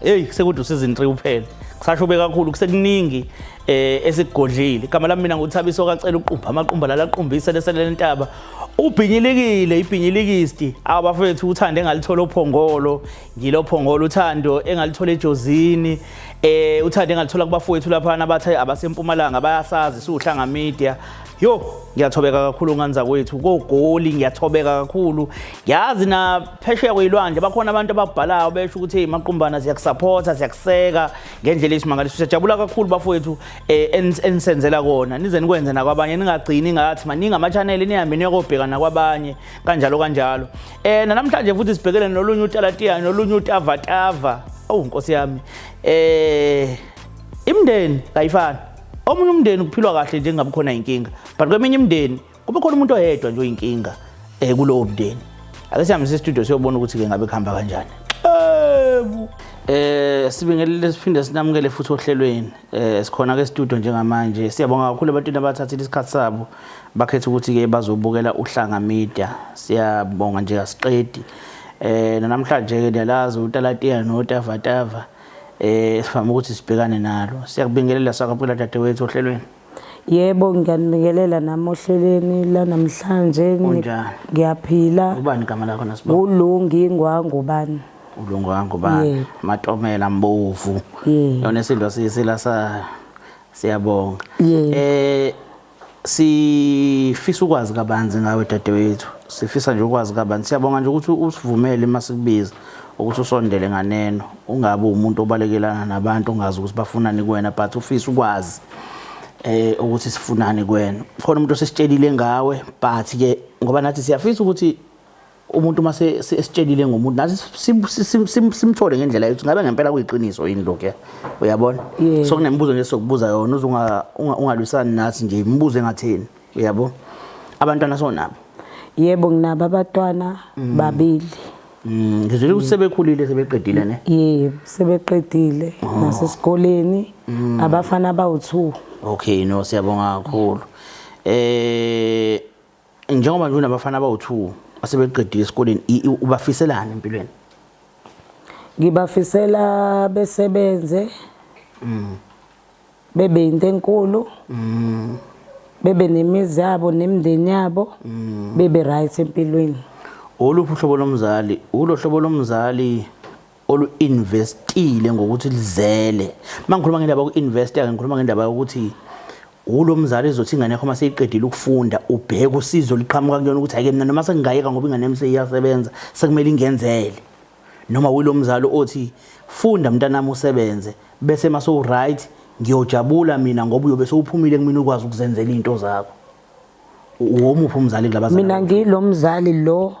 Hey sekude season 3 uphele. Kusasho be kakhulu kusekuningi eh esigodlile. Igama lami mina nguthabiso kacela uqumba amaqumba lala qumbisa leselele intaba. Ubhinyilikile ibhinyilikisti abafethu uthanda engalithola ophongolo ngilophongolo uthando engalithola ejozini eh uthanda engalithola kubafowethu lapha nabathe abasempumalanga bayasazi suhlanga media Yo, ngiyathobeka kakhulu nganza kwethu kogoli ngiyathobeka kakhulu. Yazi na phesheya kweyilwandle bakhona abantu ababhalayo besho ukuthi hey maqumbana siyakusupporta siyakuseka ngendlela esimangaliso siyajabula kakhulu bafowethu eh, enisenzela kona nize nikwenze nakwabanye ningagcini ngathi maningi ama channel nihambe niyokobheka nakwabanye kanjalo kanjalo. Eh namhlanje futhi sibhekele nolunye utalatiya nolunye utavatava. Awu nkosi yami. Eh imndeni kayifani Omunye umndeni kuphilwa kahle nje kungabi khona inkinga but kweminye imindeni kube khona umuntu oyedwa nje oyinkinga um eh, kulowo mndeni. Ake sihambe sestudio siyobona ukuthi-ke ngabe kuhamba kanjani. Ewu! Eh sibingelele siphinde sinamukele futhi ohlelweni. Eh sikhona ke studio njengamanje. Siyabonga kakhulu ebantwini abathathile isikhathi sabo bakhetha ukuthi ke bazobukela uhlanga media. Siyabonga nje asiqedi. Eh namhlanje ke niyalazi utalatiya notavatava. eh sifama ukuthi sibhekane nalo siyakubingelela sakabukela dadewethu ohlelweni yebo ngiyanibingelela nami ohlelweni lanamhlanje ngiyaphila ubani igama lakho nasiba ulungi ingwangu bani ulungu wangu bani matomela mbovu yona isindwa sisila sa siyabonga eh Sifisa ukwazi kabanzi ngawe dadewethu. Sifisa nje ukwazi kabanzi. Siyabonga nje ukuthi usivumele uma sikubiza ukuthi usondele nganeno. Ungabe umuntu obalekelana nabantu ongazi ukuthi bafunani kuwena but ufisa ukwazi eh ukuthi sifunani kuwena. Khona umuntu osesitshelile ngawe but ke ngoba nathi siyafisa ukuthi umuntu uma esitshelile ngomuntu nathi simthole ngendlela yokuthi ngabe ngempela kuyiqiniso yini lokhu ya uyabona so kunemibuzo nje sokubuza yona uze ungalwisani nathi nje imibuzo engatheni uyabo abantwana sonabo yebo nginabo abatwana mm. babili mm, ngizwile ukuthi sebekhulile sebeqedile ne yebo sebeqedile oh. nasesikoleni mm. abafana abawu-two okay no siyabonga kakhulu eh Njengoba nje unabafana abawu-2 asebeqedile esikoleni ubafiselani empilweni? Ngibafisela besebenze mm. bebe yinto enkulu mm. bebe nemizi yabo nemndeni yabo mm. bebe right empilweni. Oluphi uhlobo lomzali? Ulo hlobo lomzali olu-investile ngokuthi lizele uma ngikhuluma ngendaba yoku-investa ke ngikhuluma ngendaba yokuthi wulo mzali ezothi ingane yakho uma seyiqedile ukufunda ubheke usizo liqhamuka kuyona ukuthi ake mina noma sengingayeka ngoba ingane yami seyiyasebenza sekumele ingenzele noma wulo mzali othi funda mntanami usebenze bese uma sowuright ngiyojabula mina ngoba uyobe sewuphumile kumina ukwazi ukuzenzela izinto zakho womuphi umzali kulabazali mina ngilomzali lo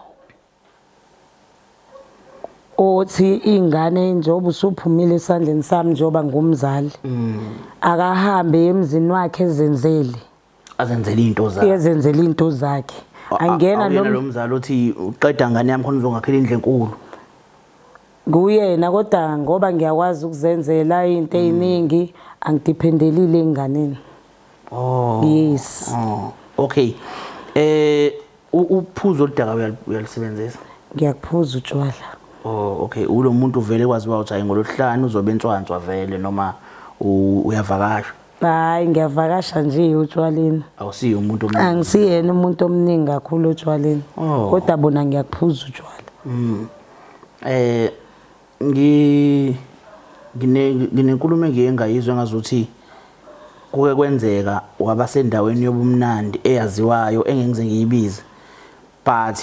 othi ingane njengoba usuphumile esandleni sami njengoba ngumzali mm. akahambe emzini wakhe ezenzele azenzele into zakhe ezenzele into zakhe angena lo mzali othi uqeda ngane yami khona uzongakhela indle enkulu kuyena kodwa ngoba ngiyakwazi ukuzenzela into mm. eziningi angidephendelile enganeni oh yes oh okay eh Uphuzo oludaka uyalusebenzisa? Ngiyakuphuza utshwala. Oh okay, ulo muntu vele kwaziwa ukuthi hayi ngolosihlanu uzobe entswanswa vele noma uyavakasha? Hayi ngiyavakasha nje utshwaleni. Awusiye umuntu omningi. Angisiyena umuntu omningi kakhulu otshwaleni. Oh. Kodwa bona ngiyakuphuza utshwala. Mm. Eh Ngi ngine nginenkulumo engiye ngayizwa ngazuthi kuke kwenzeka wabasendaweni yobumnandi eyaziwayo engengize ngiyibize but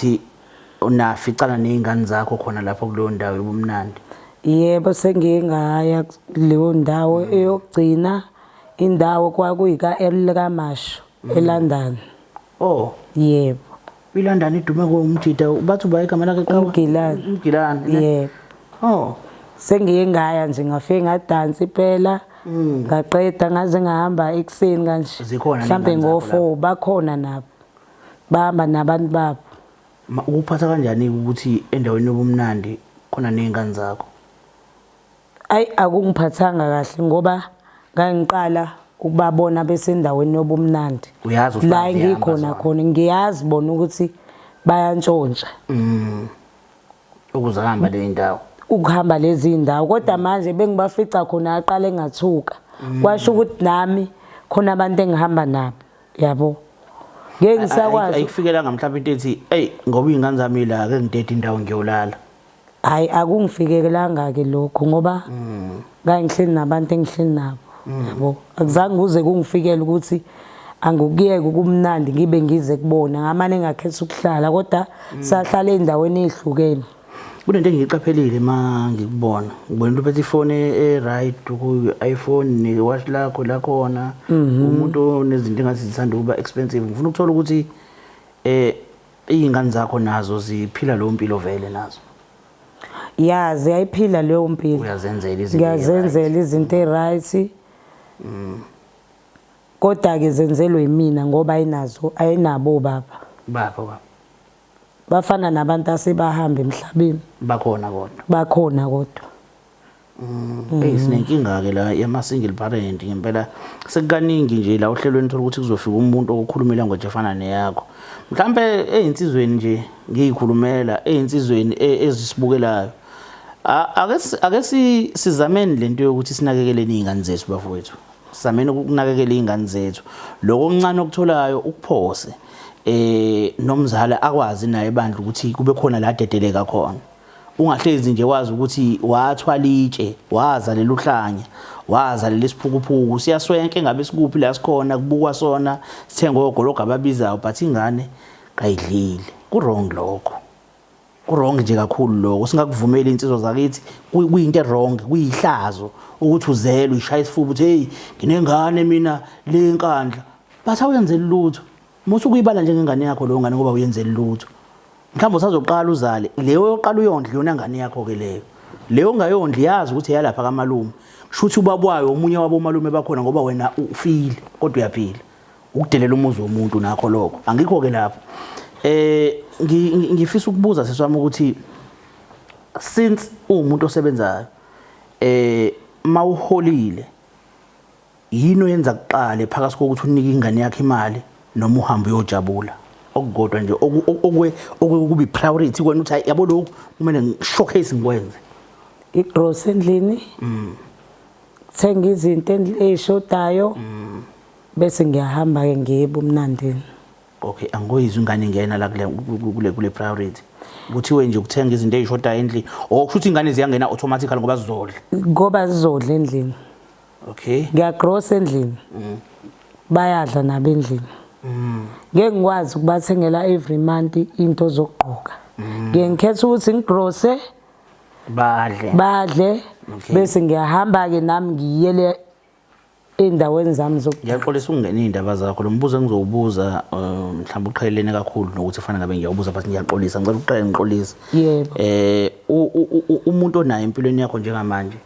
unaficana nezingane zakho khona lapho kuleyo ndawo yobumnandi yebo sengiye ngaya kuleyo ndawo mm. eyokugcina indawo kwakuyika elikamasho mm. eLondon oh yebo ILondon idume ngo umjida bathi uba igama lakhe qaba umgilani umgilani yebo oh sengiye ngaya nje ngafike ngadansa iphela mm. ngaqeda ngaze ngahamba ekuseni kanje mhlambe ngofo bakhona nabo bahamba nabantu babo ukuphatha kanjani ukuthi endaweni yobumnandi khona nezingane zakho Ayi akungiphathanga kahle ngoba ngangiqala ukubabona besendaweni yobumnandi uyazi usibazi la engikhona khona ngiyazi bona ukuthi bayantshontsha mm. ukuze ahamba le ndawo ukuhamba lezi ndawo kodwa mm. manje bengibafica khona aqale ngathuka mm. kwasho ukuthi nami khona abantu engihamba nabo yabo ngeke ngisakwazi ayikufikelanga mhlawumbe into ethi hey ngoba ingane zami la ke ngidede indawo ngiyolala Hayi akungifikelanga ke lokho ngoba mm. ngangihleli nabantu engihleli nabo mm. yabo akuzange kuze kungifikele ukuthi angikuyeke ukumnandi ngibe ngize kubona ngamane ngakhetha ukuhlala kodwa mm. sahlala endaweni ezihlukene kunento engiyiqaphelile ma ngikubona ngibona into phethe ifone e-right kuyi-iphone ne-watch lakho lakhona mhm. umuntu onezinto engathi zithanda ukuba expensive ngifuna ukuthola ukuthi um Iy'ngane zakho nazo ziphila leyo mpilo vele nazo? Ya, ziyayiphila leyo mpilo. Uyazenzela izinto Ngiyazenzela izinto e-right. Mm. Kodwa-ke zenzelwe yimina ngoba ayinazo ayinabo obaba. Bapho baba. Bafana nabantu asebahamba emhlabeni. Bakhona kodwa. Bakhona kodwa. Mm. Hey sinenkinga ke la yama single parent ngempela sekukaningi nje la ohlelweni thola ukuthi kuzofika umuntu okukhuluma language efana neyakho mhlambe ezinsizweni nje ngiyikhulumela ezinsizweni e, ezisibukelayo ake ake sizameni lento yokuthi sinakekele izingane zethu bafowethu sizameni ukunakekela izingane zethu lokho okuncane okutholayo ukuphose eh nomzali akwazi naye bandla ukuthi kube khona la dedeleka khona Ungahlezi nje wazi ukuthi wathwala itshe, wazalela uhlanya, wazalela isiphukuphuku. Siyaswenke ngabe sikuphi la sikhona kubukwa sona, sithenge ogologo ababizayo but ingane kayidlile. Ku-wrong lokho. Ku-wrong nje kakhulu lokho. Singakuvumeli insizwa zakithi kuyinto e-wrong, kuyihlazo ukuthi uzelwe ishaya isifuba uthi hey nginengane mina le nkandla but awuyenzeli lutho. Musa ukuyibala njengengane yakho leyo ngane ngoba uyenzeli lutho. Mhlawumbe usazoqala uzale leyo yoqala uyondla yona ngane yakho ke leyo. Leyo ongayondli yazi ukuthi eyalapha kamalume. Shuthi ubabwayo omunye wabo malume bakhona ngoba wena ufile kodwa uyaphila. Ukudelela umuzi womuntu nakho lokho. Angikho ke lapho. Eh ngifisa ukubuza seswami ukuthi since uwumuntu osebenzayo eh mawuholile Yini oyenza kuqale phakathi kokuthi unike ingane yakho imali noma uhambe uyojabula? Okukodwa nje okwe okubi priority kwena uthi yabo lokhu kumele ngishowcase ngikwenze. Igross endlini. Mm. Thenga izinto ezishodayo. Mm. Bese ngiyahamba ke ngiye ebumnandini. Okay, angoyizwe ingane ingena la kule kule kule priority. Kuthiwe nje ukuthenga izinto ezishodayo endlini. Okusho ukuthi ingane ziyangena automatically ngoba zizodla. Ngoba zizodla endlini. okay ngiyagrosa endlini mm. bayadla nabo endlini mm. ngeke ngikwazi ukubathengela every month into zokugqoka mm. ngeke ngikhetha ukuthi ngigrose badle badle bese ngiyahamba ke nami ngiyele endaweni zami zokuthi ngiyaxolisa ukungena izindaba zakho lombuzo engizowubuza uh, mhlawumbe uqhelelene kakhulu nokuthi fanele ngabe ngiyawubuza but ngiyaxolisa ngicela uqale ngiqolise yebo eh umuntu onayo empilweni yakho njengamanje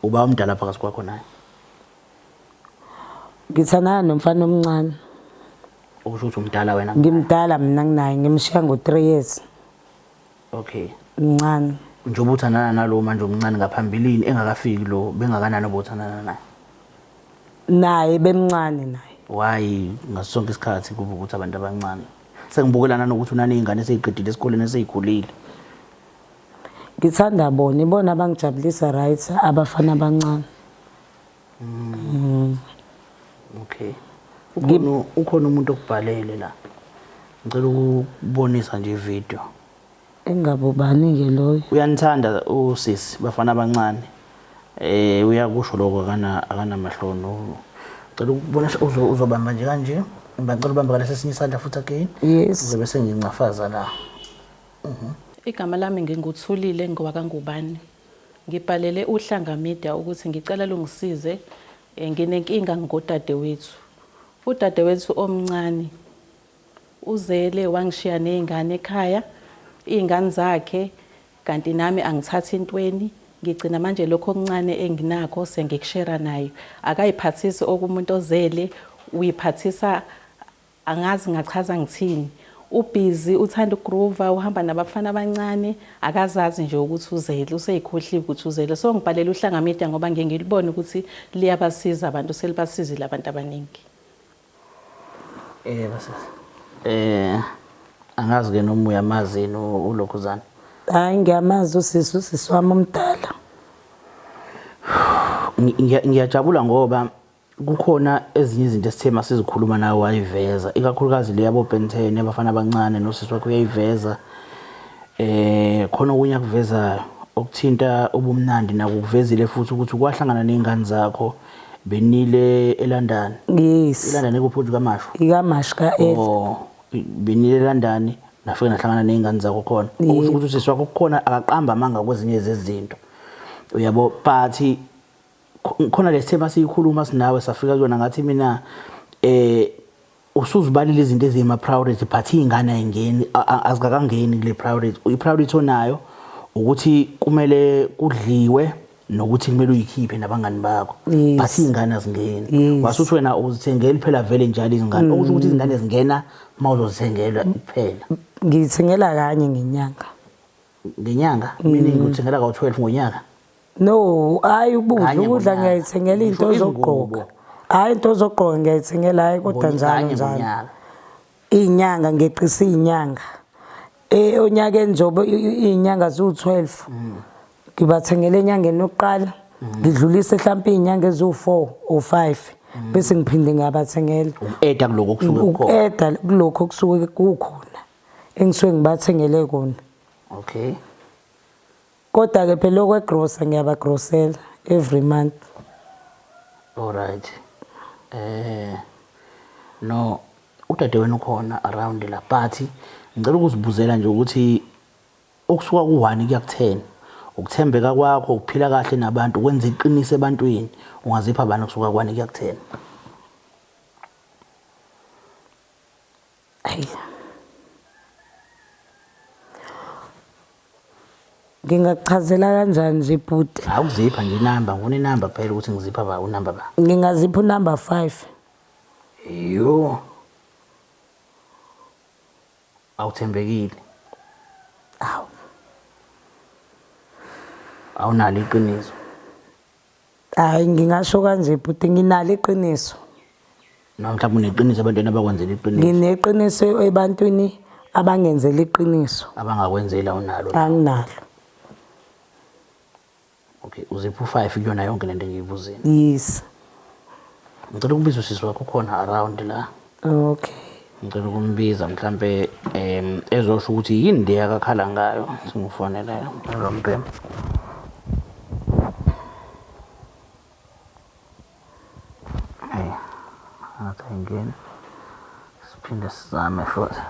Uba omdala phakathi kwakho naye. Ngithandana nomfana omncane. Ukusho ukuthi umdala wena? Ngimdala mina nginaye ngimshiya ngo-3 years. Okay. Mncane. Njengoba uthandana nalo manje omncane ngaphambilini engakafiki lo bengakanani obothandana naye? Naye bemncane naye. Why ngaso sonke isikhathi kuba ukuthi abantu abancane? Sengibukelana nokuthi unanezingane eseziqedile esikoleni esezikhulile. Ngithanda bona, ibona abangijabulisa right abafana abancane. Mm. Okay. Ukhona ukhona umuntu okubhalele la. Ngicela ukubonisa nje ivideo. Engabe ubani ke loyo? Uyanithanda usisi bafana abancane. Eh uyakusho lokho akana akanamahloni. Ngicela ukubonisa uzobamba nje kanje. Ngicela ubamba ngalesinye isandla futhi again. Yes. Ngizobe sengincafaza la. Igama lami nginguThulile ngowakaNgubane. Ngibhalele uHlanga Media ukuthi ngicela lungisize nginenkinga ngodadewethu. Udadewethu omncane uzele wangishiya nezingane ekhaya, izingane zakhe kanti nami angithathi ntweni, ngigcina manje lokhu okuncane enginakho sengikushera naye. Akayiphathisi okumuntu ozele uyiphathisa Angazi ngachaza ngithini. U busy, uthanda u groover, uhamba nabafana abancane, akazazi nje ukuthi uzele, useyikhohliwe ukuthi uzele. So ngibhalele uhlanga media ngoba ngiye ngilibone ukuthi liyabasiza abantu, selibasizile abantu abaningi. Yebo sisi. Eh angazi ke noma uyamazi yini u- uLokhuzana. Hayi ngiyamazi usisi usisi wami omdala. Ngi- ngiya- Ngiyajabula ngoba Kukhona ezinye izinto esithe masizikhuluma nawe wayiveza ikakhulukazi le yabo Ben 10 yabafana abancane nosisi wakho uyayiveza eh khona okunye akuvezayo okuthinta ubumnandi naku kuvezile futhi ukuthi kwahlangana nezingane zakho benile eLondon yes eLondon ekuphuthi kamashu ikamashu ka Ed oh benile eLondon nafike nahlangana nezingane zakho khona ukuthi ukuthi sisi wakho kukhona akaqamba amanga kwezinye zezinto uyabo but khona lesithemba siyikhuluma sinawe safika kuyona ngathi mina eh usuzibalile izinto ezima priority but ingane ayingeni azikakangeni kule priority i priority onayo ukuthi kumele kudliwe nokuthi kumele uyikhiphe nabangani bakho but ingane azingeni wasuthi wena uzithengeli phela vele njalo izingane okusho ukuthi izingane zingena uma uzozithengelwa kuphela ngithengela kanye ngenyanga ngenyanga mm. meaning uthengela ka 12 ngonyaka no hayi ukudla ukudla ngiyayithengela into zokugqoka hayi into zokugqoka ngiyayithengela hayi kodwa njalo njalo inyanga ngeqisa inyanga eh onyaka enjobo inyanga zu 12 mm. ngibathengele enyangeni yokuqala mm. ngidlulise mhlawumbe inyanga ezu 4 or 5 bese ngiphinde ngiyabathengela uku-eda kulokho okusuke kukhona engisuke ngibathengele kona okay kodwa ke phela okwegrosa ngiyabagrosela every month alright eh no udade wenu khona around la but ngicela ukuzibuzela nje ukuthi okusuka ku-1 kuya ku-10 ukuthembeka kwakho ukuphila kahle nabantu kwenza iqiniso ebantwini ungazipha abantu kusuka ku-1 kuya ku-10 Ayi. Ngingakuchazela kanjani nje bhuti? Awukuzipha nje inamba, ngifuna inamba phela ukuthi ngizipha ba unamba ba. Ngingazipha unumber 5. Yo. Awuthembekile. Awu. Awunalo iqiniso. Hayi ngingasho kanje bhuti nginalo iqiniso. Noma mhlawumbe uneqiniso ebantwini abakwenzela iqiniso. Ngineqiniso ebantwini abangenzela iqiniso. Abangakwenzela unalo. Anginalo. Okay, uziphu 5 kuyona yonke lento engiyibuzile. Yes. Ngicela ukubiza usisi wakho khona around la. Okay. Ngicela ukumbiza mhlampe em ezosho ukuthi yini le akakhala ngayo singifonele lo mbhemu. Hey. Ngathi ayingeni. Siphinde sizame futhi.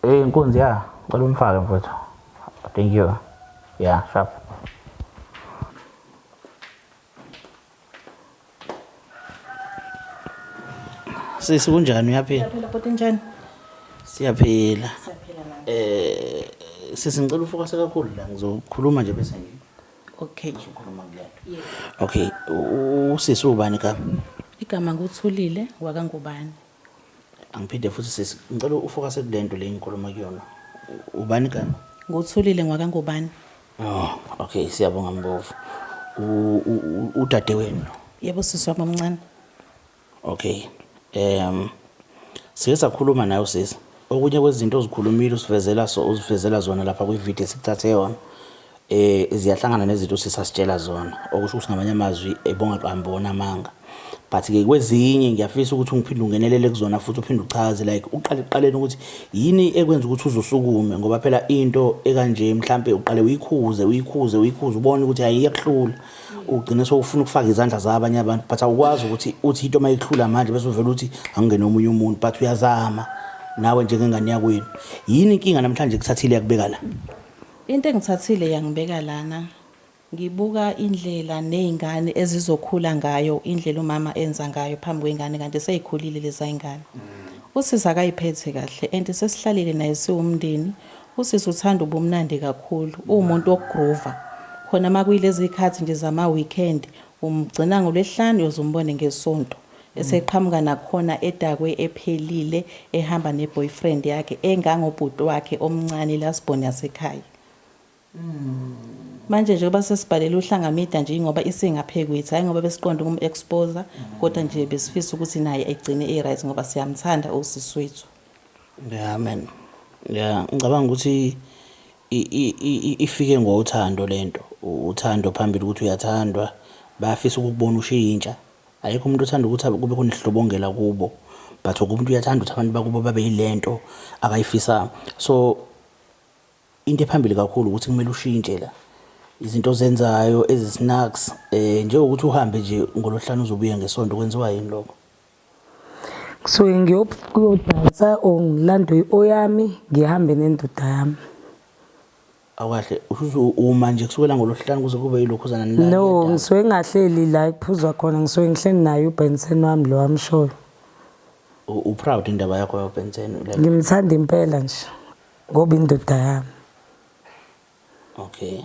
Hey nkunzi ya, ngicela umfake mfowethu. Thank you. Yeah, sharp. Sisi kunjani uyaphila? Uyaphila bhuti njani? Siyaphila. Siyaphila nami. Eh sisi ngicela ufokase kakhulu la ngizokhuluma nje bese ngi Okay. ngizokhuluma kulento. Yes. Okay, u- u- usisi ubani ka? Igama nguthulile wakangubani. Angiphinde futhi sisi, ngicela ufokase kule nto le engikhuluma kuyona. Ubani igama? Nguthulile ngwakangubani. Oh, okay, siyabonga Mbovu. U- u- u- Udade wenu. Yebo sisi wami omncane. Okay. Em sike sakhuluma naye usisi. Okunye kwezinto ozikhulumile usivezela so uzivezela zona lapha kwi-video sikuthathe yona. eh ziyahlangana nezinto sisasitshela zona okusho ukuthi ngamanye amazwi ebonga qambi wona amanga but ke kwezinye ngiyafisa ukuthi ungiphinde ungenelele kuzona futhi uphinde uchaze like uqale kuqaleni ukuthi yini ekwenza ukuthi uzosukume ngoba phela into ekanje mhlambe uqale uyikhuze uyikhuze uyikhuze ubone ukuthi hayi iyakuhlula ugcine sowufuna ukufaka izandla zabanye abantu but awukwazi ukuthi uthi into mayihlula manje bese uvela ukuthi angene omunye umuntu but uyazama nawe njengengane yakwenu yini inkinga namhlanje kuthathile yakubeka la Into engithathile yangibeka lana ngibuka indlela nezingane ezizokhula ngayo indlela umama enza ngayo phambi kwengane kanti sezikhulile lezayingane. Usisi akayiphethe kahle and sesihlalile naye siwumndeni. Usisi uthanda ubumnandi kakhulu uwumuntu wokugroova khona makuyilezikhathi nje zama weekend umgcina ngolwesihlanu uyoze umbone ngesonto. eseqhamuka nakhona edakwe ephelile ehamba ne boyfriend yakhe engangobhuti wakhe omncane lasborn yasekhaya manje njengoba sesibhalele uhlanga media nje ingoba isingaphekwethu hayi ngoba besiqonda ukum exposer kodwa nje besifisa ukuthi naye egcine e right ngoba siyamthanda usisi wethu yeah man yeah ngicabanga ukuthi ifike ngothando lento uthando phambili ukuthi uyathandwa bayafisa ukukubona ushiyintsha Ayikho umuntu othanda ukuthi kube khona ihlobongela kubo but wonke umuntu uyathanda ukuthi abantu bakubo babe yilento akayifisa so into ephambili kakhulu ukuthi kumele ushintshe la izinto ozenzayo ezi-snacks eh njengokuthi uhambe nje ngolohlanu uzobuya ngesonto kwenziwa yini lokho kusuke ngiyodansa or ngilande oyami ngihambe nendoda yami Awukahle usuze uma nje kusukela ngolosihlanu kuze kube yilokhuzana nilala. No, niyadakwa. ngisuke ngingahleli la kuphuzwa khona, ngisuke ngihleli naye uBenson wami lo amshoyo. U- uproud indaba yakho yobensen like Ngimthanda impela nje ngoba indoda yami. okay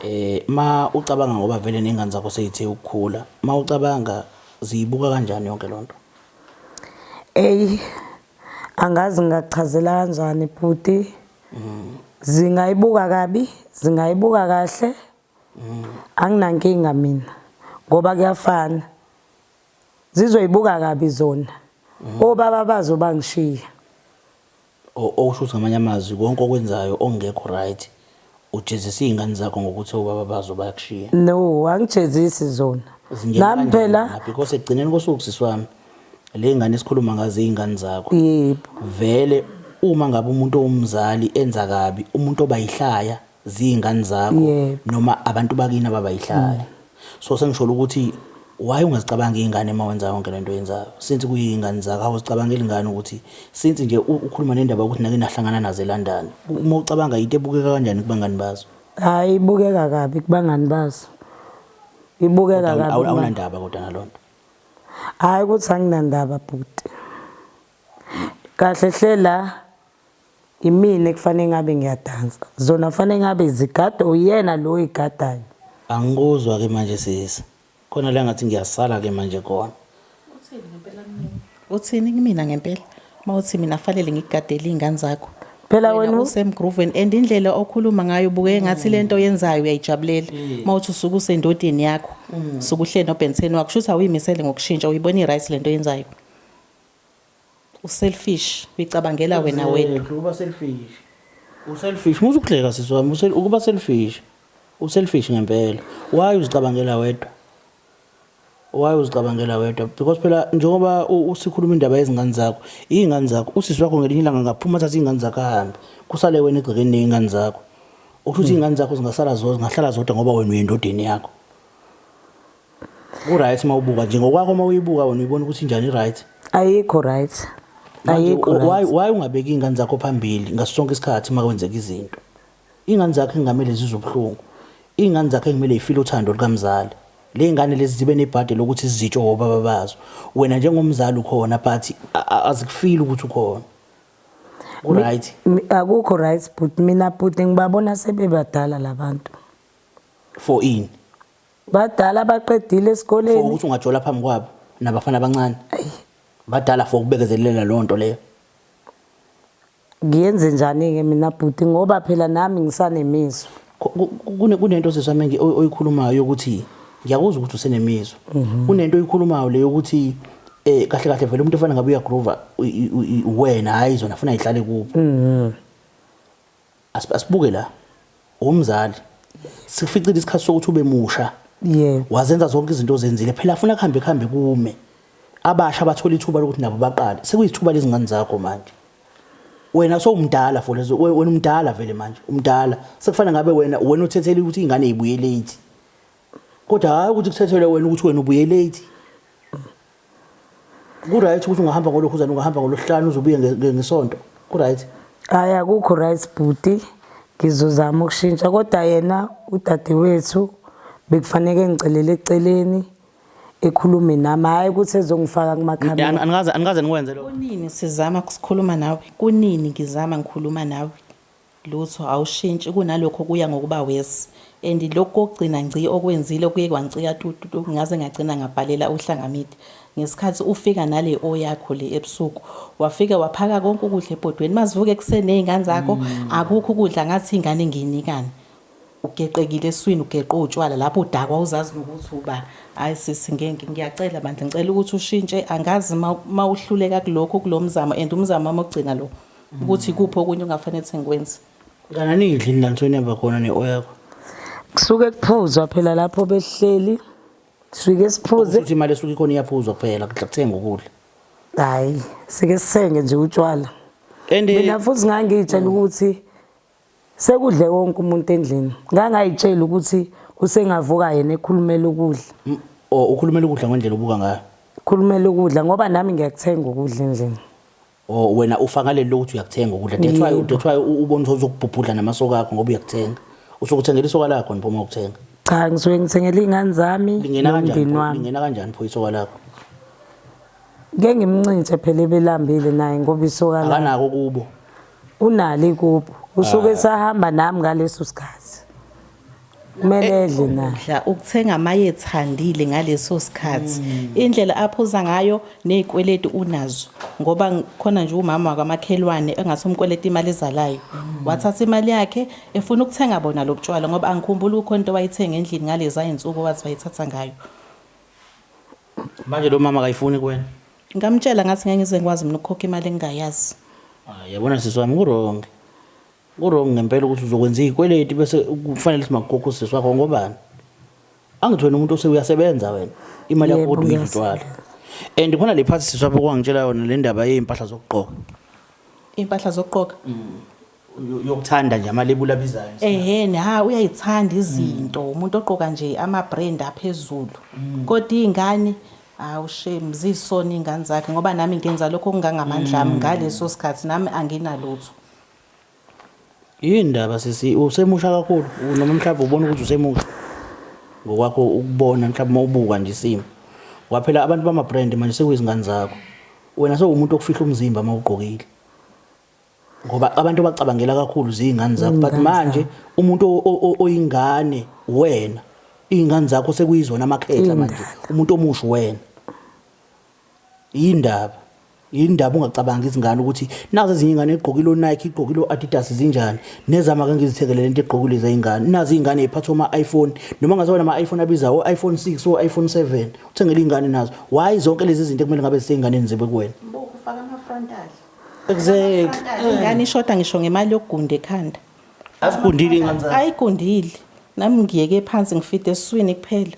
eh ma ucabanga ngoba vele nengane zakho seyithe ukukhula ma ucabanga ziyibuka kanjani yonke lonto Ey angazi ngingachazela kanjani bhuti zingayibuka kabi zingayibuka kahle anginankinga mina ngoba kuyafana zizoyibuka kabi zona obaba bazo bangishiya okusho ukuthi ngamanye amazwi konke okwenzayo ongekho right Ujezisa iy'ngane zakho ngokuthi obaba bazo bayakushiya. No, angijezisi zona. Zingena Nami kanjani phela lapho? Because ekugcineni kosuku sisi wami le ngane esikhuluma ngazo iy'ngane zakho. yebo. Vele uma ngabe umuntu owumzali enza kabi umuntu oba yihlaya ziy'ngane zakho Yebo. noma abantu bakini ababa yihlaya. So sengisholo ukuthi why ungazicabangi ingane uma wenza yonke lento yenzayo since kuyingane zakho awuzicabangeli ingane ukuthi since nje ukhuluma nendaba ukuthi nake nahlangana nazo eLondon uma ucabanga into ebukeka kanjani kubangani bazo hayi ibukeka kabi kubangani bazo ibukeka kabi awunandaba kodwa nalonto hayi ukuthi anginandaba bhuti kahle hle la Imina ekufanele ngabe ngiyadansa. Zona kufanele ngabe zigada uyena lo oyigadayo. Angikuzwa ke manje sisi. Khona la ngathi ngiyasala ke manje khona. Uthini ngempela mina? Uthini kumina ngempela? Uma uthi mina kufanele ngikugadele izingane zakho. Phela wena Wena usemgrooveni and indlela okhuluma ngayo buke engathi lento oyenzayo uyayijabulela. Uma uthi usuke usendodeni yakho, suke uhleli nobhenseni wakho, kusho ukuthi awuyimisele ngokushintsha, uyibona i-right lento oyenzayo. U selfish uyicabangela wena wedwa. Exactly, ukuba selfish. U selfish musa ukuhleka sisi wami, u sel- ukuba selfish. U selfish ngempela. Why uzicabangela wedwa? Why uzicabangela wedwa? Because phela njengoba u- usikhuluma indaba yezingane zakho, izingane zakho, usisi wakho ngelinye ilanga ngaphuma athathe izingane zakho ahambe. Kusale wena egcekeni nezingane zakho. Okusho ukuthi izingane zakho zingasala zodwa, zingahlala zodwa ngoba wena uyendodeni yakho. ku right uma ubuka nje ngokwakho uma uyibuka wena uyibona ukuthi njani right ayikho right ayikho why why ungabeki ingane zakho phambili ngasonke isikhathi uma kwenzeka izinto ingane zakho ingamele zizobuhlungu ingane zakho ngimele ifile uthando lukamzali le ngane lezi zibe nebhadi lokuthi zizitsho ngobaba bazo wena njengomzali ukhona but azikufili ukuthi ukhona right akukho right but mina but ngibabona sebebadala labantu for in badala abaqedile esikoleni for ukuthi ungajola phambi kwabo nabafana abancane badala for ukubekezelela leyo nto leyo ngiyenze njani-ke mina bhuti ngoba phela nami ngisanemizwa kunento seswa menge oyikhulumayo yokuthi ngiyakuzwa ukuthi usenemizwa mhm. kunento oyikhulumayo le yokuthi eh kahle kahle vele umuntu ofana ngabe uyagroova wena hayi zona funa ihlale kubo mhm. Asibuke la. Umzali sificile isikhathi sokuthi ube musha. Yebo. Wazenza zonke izinto ozenzile. Phela afuna kuhambe kuhambe kume. Abasha abathola ithuba lokuthi nabo baqale. Sekuyithuba lezingane zakho manje. Wena sowumdala for lezo wena umdala vele manje. Umdala. Sekufana ngabe wena wena uthethele ukuthi ingane ibuye late. Kodwa hayi ukuthi kuthethelwe wena ukuthi wena ubuye late. Ku-right ukuthi ungahamba ngolokhuzana ungahamba ngolosihlanu uzobuye ngesonto. Ku-right. Hayi akukho right bhuti. Ngizozama ukushintsha kodwa yena udadewethu bekufanele ngicelele eceleni ekhulume nami hayi ukuthi ezongifaka kumakhamera. Anikaze anikaze nikwenze lokho. Kunini sizama ukusikhuluma nawe? Kunini ngizama ngikhuluma nawe? Lutho awushintshi kunalokho kuya ngokuba worse and lokhu kokugcina ngci okwenzile kuye kwangicika tu tu tu ngaze ngagcina ngabhalela uhlanga media ngesikhathi ufika nale o yakho le ebusuku wafike waphaka konke ukudla ebhodweni mazivuka ekuseni nezingane zakho akukho ukudla ngathi ingane engiyinikani ugeqekile eswini ugeqe utshwala lapho udakwa uzazi nokuthi uba hayi sisi ngeke ngiyacela bandla ngicela ukuthi ushintshe angazi mawuhluleka kulokho kulomzamo and umzamo wami ogcina lo ukuthi ikuphi okunye ungafanele ukuthi ngikwenze kana nidli nilansweni yaba khona ne-oyakho kusuke kuphuzwa phela lapho behleli sifike siphuze ukuthi imali esuke ikhona iyaphuzwa kuphela kuthenga ukudla hayi sike sisenge nje utshwala mina futhi ngangiyitshela ukuthi sekudle wonke umuntu endlini ngangayitshela ukuthi usengavuka yena ekhulumela ukudla ukhulumela ukudla ngendlela obuka ngayo khulumela ukudla ngoba nami ngiyakuthenga ukudla endlini O wena ufa ngaleli lokuthi uyakuthenga ukudla. That's why that's why u- ubona ukuthi uzokubhubhudla namasoka akho ngoba uyakuthenga. Usukuthengela isoka lakho nipho uma ukuthenga. cha ngisuke ngithengela iy'ngane zami Lingena kanjani? nomndeni pho- wami Lingena kanjani pho isoka lakho? ke ngimncintshe phela ebelambile naye ngoba isoka lakhe Akanako kubo. unalo ikubo usuke esahamba nami ngaleso sikhathi kumele edle na Dla ukuthenga amayethandile ngaleso sikhathi. Indlela aphuza ngayo nezikweleti unazo ngoba ng- khona nje umama wakamakhelwane engathi umkweleta imali ezalayo. Wathatha imali yakhe efuna ukuthenga bona lobutshwala ngoba angikhumbuli kukhona into wayithenga endlini ngaleza insuku wathi wayithatha ngayo. Manje lo mama akayifuni kuwena. Ngamtshela ngathi ngeke ngize ngikwazi mina ukukhokha imali engingayazi. Ah, yabona sisi wami kurong. Kurong ngempela ukuthi uzokwenza izikweleti bese kufanele simakukhokha usisi wakho ngobani? Angithi wena umuntu osewuyasebenza wena imali yakho kodwa uyidlala. And khona le part siswa bokwangitshela yona le ndaba yezimpahla zokugqoka. Impahla zokugqoka. Mm. yokuthanda nje amalebula abizayo ehene ha uyayithanda izinto mm. umuntu oqoka nje ama-brand aphezulu mm. kodwa iy'ngane hawu shame ziyisona iy'ngane zakhe ngoba nami ngenza lokho okungangamandla ami mm. ngaleso sikhathi nami anginalutho Yini ndaba sisi usemusha kakhulu noma mhlawumbe ubona ukuthi usemusha ngokwakho ukubona mhlawumbe uma ubuka nje isimo ngoba phela abantu bama-brand manje sekuyizingane zakho wena sewumuntu okufihla umzimba uma ugqokile ngoba abantu bacabangela kakhulu ziyingane zakho but manje umuntu oyingane wena iy'ngane zakho sekuyizona amakhehla manje umuntu omusha wena Yini ndaba? Yini ndaba ungacabangi izingane ukuthi nazi ezinye ingane igqokile oNike igqokile oAdidas zinjani nezama ke ngizithekele lento egqokile izingane nazi izingane iphatha ama iPhone noma ngaze wena ama iPhone abiza o iPhone 6 o iPhone 7 uthengele izingane nazo why zonke lezi zinto kumele ngabe zisenganeni zibe kuwena ufaka ama frontal exactly ingane ishoda ngisho ngemali yokugunda ekhanda asigundile ingane zakhe ayigundile nami ngiyeke phansi ngifide eswini kuphela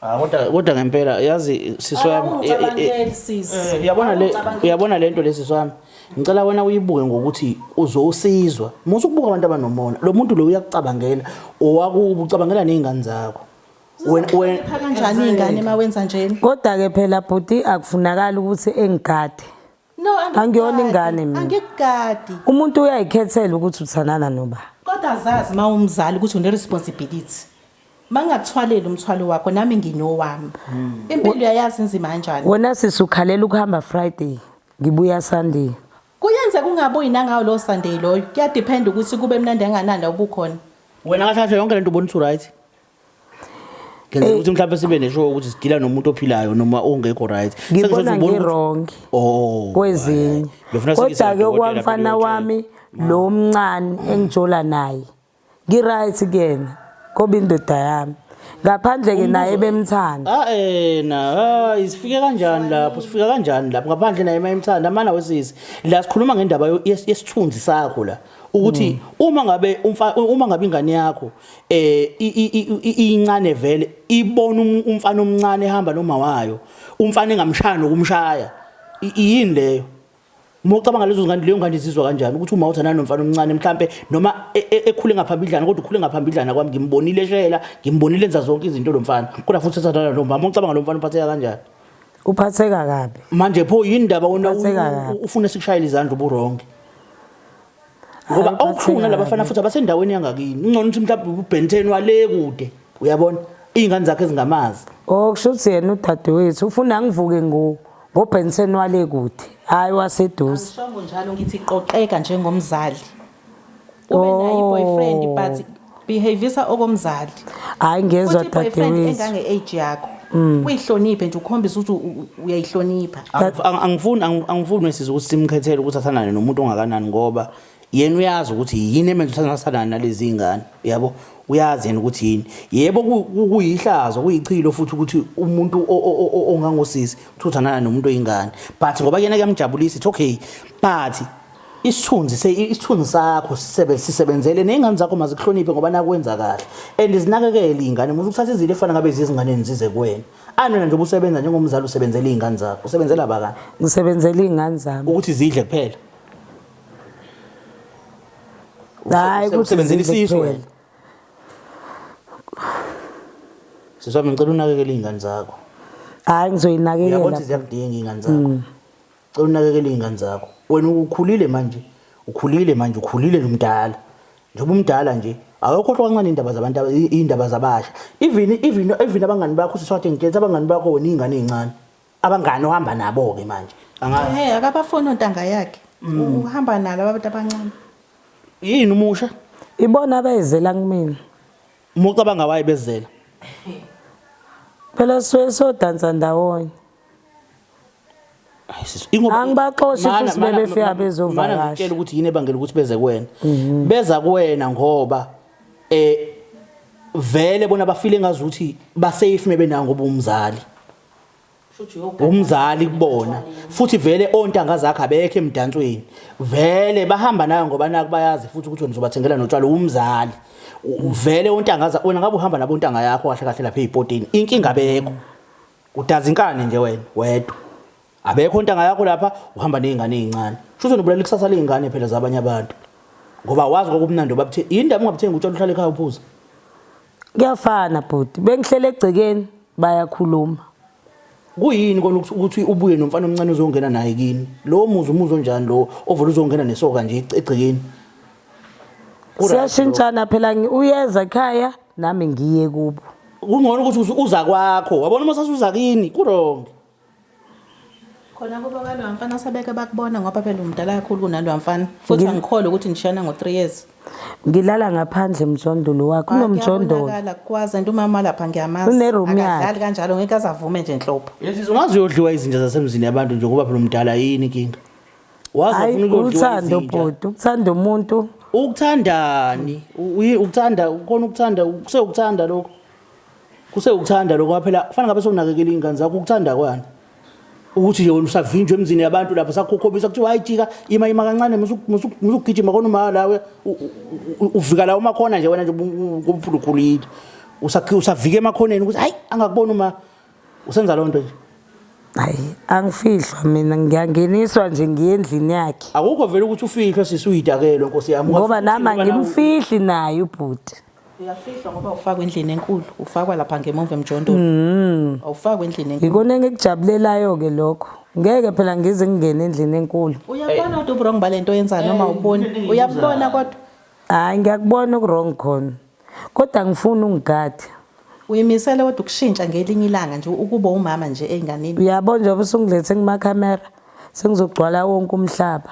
Ah, kodwa kodwa ngempela yazi sisi wami Ah, eh, eh, eh, ucabangeli, sis. eh, uyabona le Ucabangeli. uyabona lento lesi sisi wami ngicela wena uyibuke ngokuthi uzosizwa musa ukubuka abantu abanomona lo muntu lo uyakucabangela owakubo ucabangela nezingane zakho wena wena Phaka kanjani ingane mawenza njena? Kodwa-ke phela bhuti akufunakali ukuthi engigade. No, angikugadi. Angiyona ingane mina. Angikugadi. umuntu uyayikhethela ukuthi uthanana noba Kodwa zazi uma umzali ukuthi une-responsibility. Uma ngingakuthwaleli umthwalo wakho, nami nginowami. Impilo uyayazi inzima kanjani. wena sisi ukhalela ukuhamba friday ngibuya sunday Kuyenzeka ungabuyi nangawo lowo Sunday loyo. Kuyadiphenda ukuthi kube mnandi kanganani la ubukhona. wena kahle kahle yonke lento ubona ukuthi right ngenzela ukuthi mhlawumbe sibe nesho ukuthi sidila nomuntu ophilayo noma ongekho right ngibona ngiwrong oh, kwezinye kodwa-ke okwamfana wami lo mncane engijola naye ngi-right kuyena koba indoda yami ngaphandle-ke naye bemthanda ah, eh, na hayi sifike kanjani lapho sifika kanjani lapho ngaphandle naye mayemthanda amana wesisi la sikhuluma ngendaba yesithunzi sakho la ukuthi hmm. uma ngabe uma ngabe ingane yakho eh incane vele ibona um, umfana omncane ehamba noma wayo umfana engamshaya nokumshaya yini leyo uma ucabanga lezo ngane leyo ngane izizwa kanjani ukuthi uma uthandana nomfana omncane mhlambe noma e, e, ekhule ngaphambidlana kodwa ukhule ngaphambidlana kwami ngimbonile eshela ngimbonile enza zonke izinto lo mfana kodwa futhi uthandana lo mama ucabanga lo mfana uphatheka kanjani uphatheka kabi manje pho yini indaba wona ufuna sikushayele izandla uburongi ngoba awukhulu nalabafana futhi abasendaweni yangakini ungcono ukuthi mhlawumbe ubhenteni wale kude uyabona iy'ngane zakhe ezingamazi o oh, kusho ukuthi yena udadewethu ufuna ngivuke ngobhenteni wale kude hhayi waseduze angisongo njalo ngithi qoqeka njengomzali ube naye oh. i-boyfriend but behavisa okomzali hayi ngezwa futhi boyfriend dadewethu engange age yakho uyihloniphe nje ukhombisa ukuthi u- u- uyayihlonipha Angif- ang- angifuni ang- angifuni wesizwe ukuthi simkhethele ukuthi athandane nomuntu ongakanani ngoba yena uyazi ukuthi yini emenza ukuthi angathandani nalezi ngane yabo uyazi yena ukuthi yini yebo ku- ku- kuyihlazo kuyichilo futhi ukuthi umuntu o- o- o- o- ongangosisi ukuthi uthandana nomuntu oyingane but ngoba kuyena kuyamjabulisa it's okay but isithunzi se isithunzi sakho sisebenze sisebenzele nezingane zakho mazikuhloniphe ngoba nakwenza kahle and izinakekele izingane muze ukuthatha izinto efana ngabe izingane nizize kuwena anona nje ubusebenza njengomzali usebenzela izingane zakho usebenzela abakani ngisebenzela izingane zami ukuthi zidle kuphela hayi ukuthi usebenzela isisu wena siswami ngicela unakekele izingane zakho hayi ngizoyinakekela yabona ziyakudinga izingane zakho mm. Cela unakekele iy'ngane zakho. Wena ukhulile manje, ukhulile manje, ukhulile nomdala. Njengoba umdala nje, awukhohlwa kancane iy'ndaba zabantu, iy'ndaba zabasha. Even, even, even abangani bakho usiswathe ngitshela abangani bakho wena iy'ngane ey'ncane. Abangani ohamba nabo-ke manje. Angazi. Hey, akabafuni ontanga yakhe. Mm. Uhamba nalo abantu abancane. Yini umusha? Ibona abayizela kumina. Mucabanga waye bezela. Phela siwe sodansa ndawonye. angibaxoshi futhi bebefika bezovakasha ukuthi yini ebangela ukuthi beze kuwena mhm. beza kuwena ngoba eh vele bona bafile ngazi ukuthi basafe mebenawo ngoba umzali umzali kubona futhi vele ontanga zakhe abekho emdansweni vele bahamba nayo ngoba naku bayazi futhi ukuthi wena uzobathengela notshwala umzali vele ontanga zakhe wena ngabe uhamba nabontanga yakho kahle kahle lapha ezipotini inkinga bekho Udazi inkani nje wena wedwa. Abekho ntanga yakho lapha uhamba nezingane ezincane. Shuthi unobulala ikusasa lezingane phela zabanye abantu. Ngoba wazi kokumnandi obabuthe indaba ungabuthengi utshela uhlale ekhaya uphuza. Kuyafana bhuti, bengihlele egcekeni bayakhuluma. Kuyini kona ukuthi ukuthi ubuye nomfana omncane uzongena naye kini? Lo muzi umuzi onjani lo ovela uzongena nesoka nje egcekeni? siyashintshana phela uyeza ekhaya nami ngiye kubo kungcono ukuthi uza kwakho wabona uma sasuza kini kurongi khona kuba kaloya mfana sebeke bakubona ngoba phela umdala kakhulu kunaloya mfana futhi angikhole ukuthi nishana ngo-three years ngilala ngaphandle mjondolo wakho unomjondolo kwazi and umama lapha ngiyamazi uneroom yakhe kanjalo ngeke azavume nje nhlobo yesizwe ungazi uyodliwa izinja zasemzini yabantu nje ngoba phela umdala yini inkinga waze Hayi, ufuna ukudliwa uthando izinja bhuti ukuthanda umuntu ukuthandani U- uyi- ukuthanda ukona ukuthanda kusewukuthanda lokho kusewukuthanda lokho phela kufanele ngabe sokunakekela iy'ngane zakho ukuthanda kwani ukuthi nje wena usavinjwa emzini yabantu lapho sakhokhobisa kuthiwa hayi jika ima ima kancane musu- musu- musugijima khona uma lawe u- u- u- uvika la umakhona nje wena nje ngobuphulukhulile usavika emakhoneni ukuthi hayi angakubona uma usenza loo nto nje hayi angifihlwa mina ngiyangeniswa nje ngiye endlini yakhe akukho vele ukuthi ufihlwe sisi uyidakelwe nkosi yami ngoba nami angimfihli naye ubhuti uyafihlwa ngoba ufakwa endlini enkulu ufakwa lapha ngemuva emjondolo mm. awufakwa endlini enkulu yikona engikujabulelayo-ke lokho ngeke phela ngize ngingene endlini enkulu uyabona kodwa ubrong balento yenza noma uboni uyabona kodwa hayi ngiyakubona ukurong khona Kodwa angifuni ungigade. Uyimisele kodwa ukushintsha ngelinye ilanga nje ukuba umama nje enganini. Uyabo njengoba usunglethe kuma camera sengizogcwala wonke umhlaba.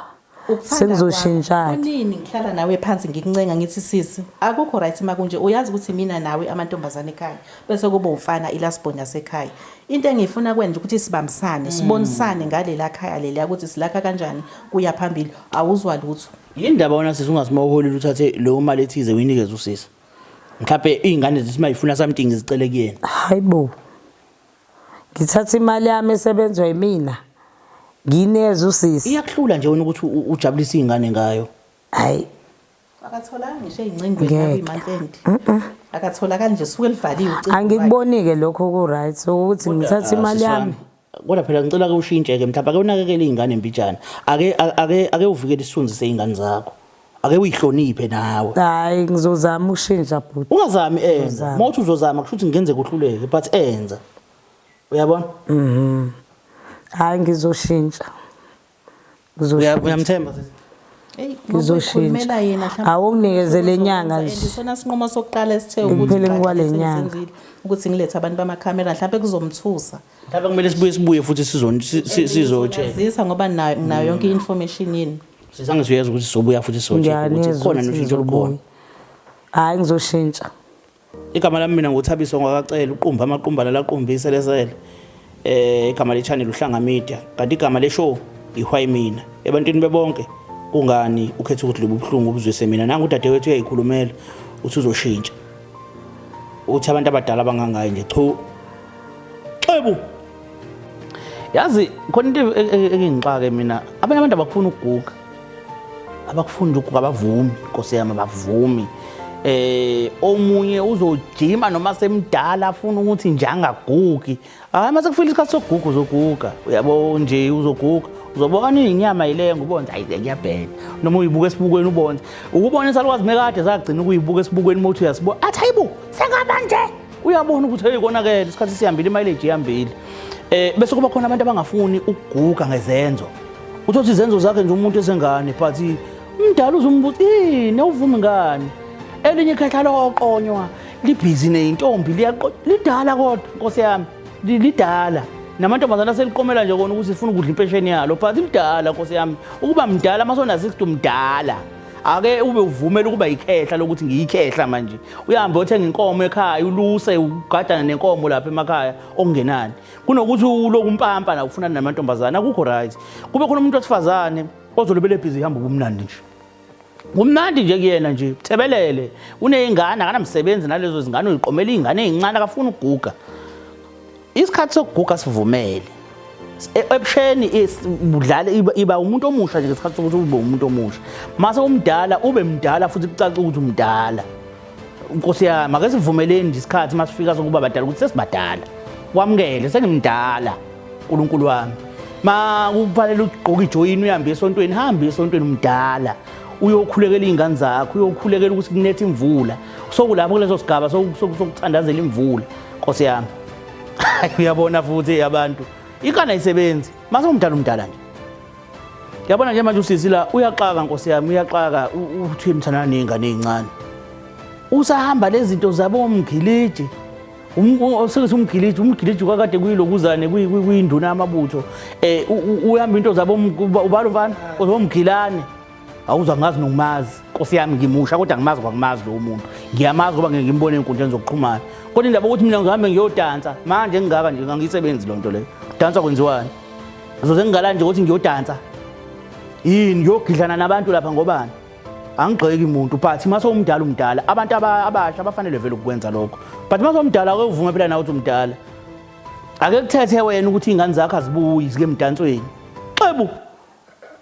Sengizoshintshana. Kunini ngihlala nawe phansi ngikuncenga ngithi sisi akukho right makunje uyazi ukuthi mina nawe amantombazane ekhaya bese kuba umfana ilasbon yasekhaya. Into engiyifuna kwenje ukuthi sibambisane sibonisane ngalela khaya leliya ukuthi silakha kanjani kuya phambili awuzwa lutho. Yini ndaba wena sisi ungasimoholile uthathe leyo mali ethize uyinikeze usisi. Mhlawumbe izingane zithi mayifuna something zicele kuyena. Hayibo. Ngithatha imali yami esebenzwa yimina. Ngineze usisi. Iyakuhlula nje wena ukuthi u- ujabulise izingane ngayo. Hayi. akatholanga ngisho ey'ncingweni Ngeke. nakwimatendi akatholakali nje suke livaliwe ucingo lwakhe. Angikuboni-ke lokho ku-right ukuthi ngithathe imali yami. kodwa phela ngicela ke ushintshe ke mhlawumbe ake unakekele izingane mbijana ake ake ake uvikele isithunzi sezingane zakho ake uyihloniphe nawe hayi ngizozama ukushintsha bhuti ungazami enza mothi uzozama kusho ukuthi ngenze kuhluleke but enza uyabona mhm hayi ngizoshintsha uyamthemba sisi ngizoshintsha awunginikeze le nyanga nje isona sinqumo sokuqala esithe ukuthi ngikwale nyanga ukuthi ngilethe abantu bamakhamera mhlawumbe kuzomthusa mhlawumbe kumele sibuye sibuye futhi sizozisa ngoba nginayo yonke i-information yini sisangizuyeza ukuthi sizobuya futhi sizokhona noshintsho olukhona hhayi ngizoshintsha Igama lami mina nguthabiso ngwakacela uqumba amaqumba lalaqumba iselesele eh igama le channel uhlanga media kanti igama le show ihwayi mina ebantwini bebonke kungani ukhetha ukuthi lobu buhlungu ubuzwise mina nangu udadewethu uyayikhulumela uthi uzoshintsha uthi abantu abadala bangangayi nje chu xebu yazi khona into e-, e-, engingixake mina abanye abantu abakufuna ukuguga abakufunda ukho kabavumi nkosi yami abavumi eh omunye uzojima noma semdala afuna ukuthi nje angagugi hayi mase kufika isikhathi sokuguga uzoguga uyabo nje uzoguga uzobona inyama ileyo ngubonza ayi ngiyabhena noma uyibuka esibukweni ubonza ukubona isalukwazi mekade sagcina ukuyibuka esibukweni mothi uyasibuka athi hayibo sengaba nje uyabona ukuthi hey konakele isikhathi sihambile imileage ihambile eh bese kuba khona abantu abangafuni ukuguga ngezenzo uthothi izenzo zakhe nje umuntu esengane but umdala uzumbuthi eh newuvumi ngani elinye ikhetha loqonywa libhizi neintombi liyaqo lidala kodwa nkosi yami lidala namantombazane aseliqomela nje kona ukuthi sifuna ukudla impesheni yalo but lidala nkosi yami ukuba mdala masona 60 mdala ake ube uvumela ukuba yikhehla lokuthi ngiyikhehla manje uyahambe othenga inkomo ekhaya uluse ugadana nenkomo lapha emakhaya okungenani kunokuthi uloku umpampa la ufunana namantombazane akukho right kube khona umuntu wesifazane ozolobele ebhizi ihamba ubumnandi nje kumnandi nje kuyena nje thebelele uneyingane akanamsebenzi nalezo zingane uyiqomela iyingane ezincane akafuni ukuguga isikhathi sokuguga sivumele e, ebusheni budlala iba umuntu omusha nje ngesikhathi sokuthi ube umuntu omusha mase umdala ube mdala futhi kucaca ukuthi umdala nkosi yami ake sivumeleni nje isikhathi masifika sokuba badala ukuthi sesibadala wamukele sengimdala uNkulunkulu wami ma kufanele ugqoke ijoyini uhambe esontweni hambe esontweni umdala uyokhulekela izingane zakho uyokhulekela ukuthi kunethe imvula sokulapho kuleso sigaba sokuthandazela imvula Nkosi yami. Hayi uyabona futhi abantu. Ikana ayisebenzi. Mase umdala umdala nje. Yabona nje manje usisi la uyaxaka Nkosi yami uyaxaka uthi mthana nezingane ezincane. Usahamba lezi zinto zabo umgiliji. Usethi umgiliji umgiliji kwakade kuyilokuzane kuyinduna amabutho eh uyihamba into zabo ubalo mfana ozomgilane awuza ngazi nokumazi nkosi yami ngimusha kodwa ngimazi ngoba ngimazi lowo muntu ngiyamazi ngoba ngeke ngimbone ey'nkundleni zokuxhumana kodwa indaba ukuthi mina ngihambe ngiyodansa manje engingaka nje ngangiyisebenzi loo nto leyo dansa kwenziwani azoze ngingala nje ukuthi ngiyodansa yini ngiyogidlana nabantu lapha ngobani angigxeki muntu but uma sewumdala umdala abantu abasha abafanele vele ukukwenza lokho but uma sewumdala ake uvume phela nawe ukuthi umdala ake kuthethe wena ukuthi iy'ngane zakho azibuyi zike emdansweni xebu